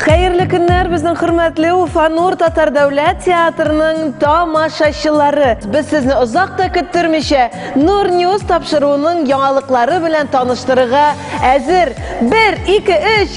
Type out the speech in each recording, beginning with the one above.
Хәерле көннәр безнең хөрмәтле Уфанур татар дәүләт театрының тамашачылары. Без сезне озак та көттермичә Нур News тапшыруының яңалыклары белән таныштырырга әзер. 1 2 3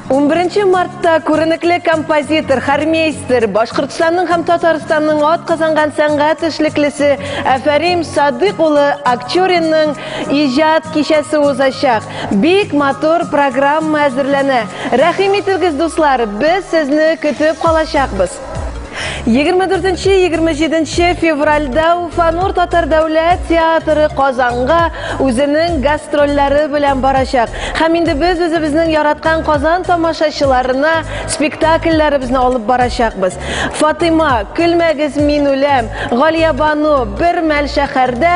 11 мартта күренекле композитор, хормейстер, Башкортстанның һәм Татарстанның ат казанган сәнгать эшлеклесе Әфәрим Садык улы Акчуринның иҗат кичәсе узачак. Бик матур программа әзерләнә. Рәхим итегез, дуслар, без сезне көтеп калачакбыз. 24-27 февральдә Уфанур татар дәүләт театры Казанга үзенең гастрольләре белән барачак. Һәм инде без үзебезнең яраткан Казан тамашачыларына спектакльләребезне алып барачакбыз. Фатыйма, Көлмәгез, мин үләм, Галиябану, Бер мәл шәһәрдә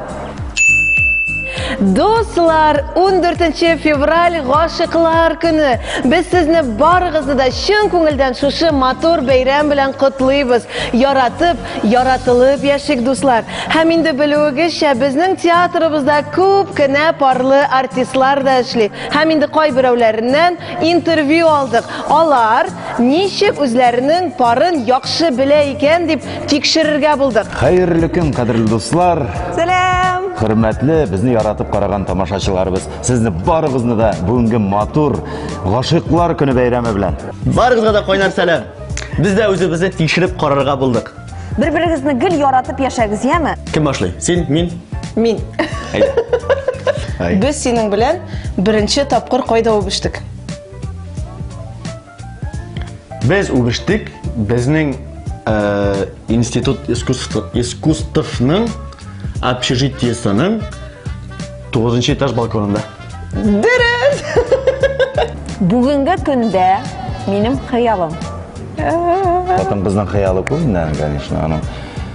Дуслар, 14 февраль гашыклар көне. Без сезне барыгызны да чын күңелдән шушы матур бәйрәм белән котлыйбыз. Яратып, яратылып яшик, дуслар. Һәм инде белүегезчә, безнең театрыбызда күп кенә парлы артистлар да эшли. Һәм инде кайберәүләреннән интервью алдык. Алар ничек үзләренең парын яхшы белә икән дип Тикшерергә булдык. Хәерле көн, кадерле дуслар! Сәлам! Хөрмәтле, безне яратып караган тамашачыларыбыз, сезне барыгызны да бүгенге матур гашыйклар көне бәйрәме белән. Барыгызга да кайнар сәлам. Без дә үзебезне тикшереп карарга булдык. Бер-берегезне гел яратып яшәгез, яме? Кем башлый? Син, мин? Мин. Без синең белән беренче тапкыр кайда үбештек? Без үгештек, безнең э, институт искусствның общежитиесының 9 этаж балконында. Дөрес! Бүгенге көндә минем хыялым. Потом безнең хыялы күп, конечно, аның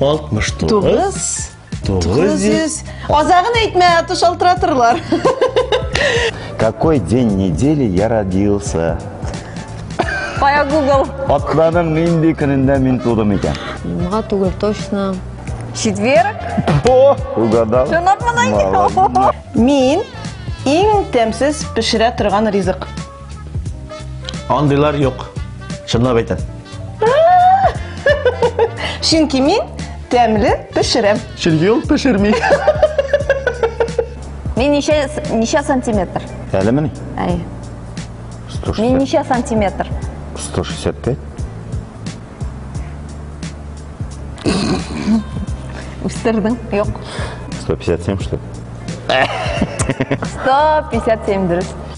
69 900 Азагын әйтмә, аты шалтыратырлар. Какой день недели я родился? Кая Google? Атладың нинди көнендә мин тудым икән? Муңа түгел, точно. Четверг? О, угадал. Чынлап мына. Мин иң тәмсез пешерә торган ризык. Андыйлар юк. Чынлап әйтәм. Чөнки мин тәмле пешерәм. Чөнки ул пешерми. Мин ничә ничә сантиметр? Әле мени? Әй. 160. Мин ничә сантиметр? 165. Үстердең? Юк. 157 что ли? 157 дөрес.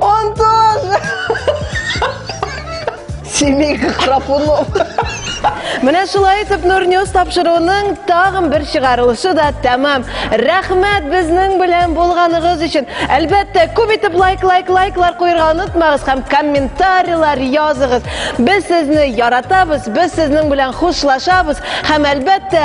Он тоже! Семейка Храпунов. Менә шулай итеп Нурньюс тапшыруының тагын бер чыгарылышы да тәмам. Рәхмәт безнең белән булганыгыз өчен. Әлбәттә, күп итеп лайк, лайк, лайклар куярга онытмагыз һәм комментарийлар языгыз. Без сезне яратабыз, без сезнең белән хушлашабыз һәм әлбәттә,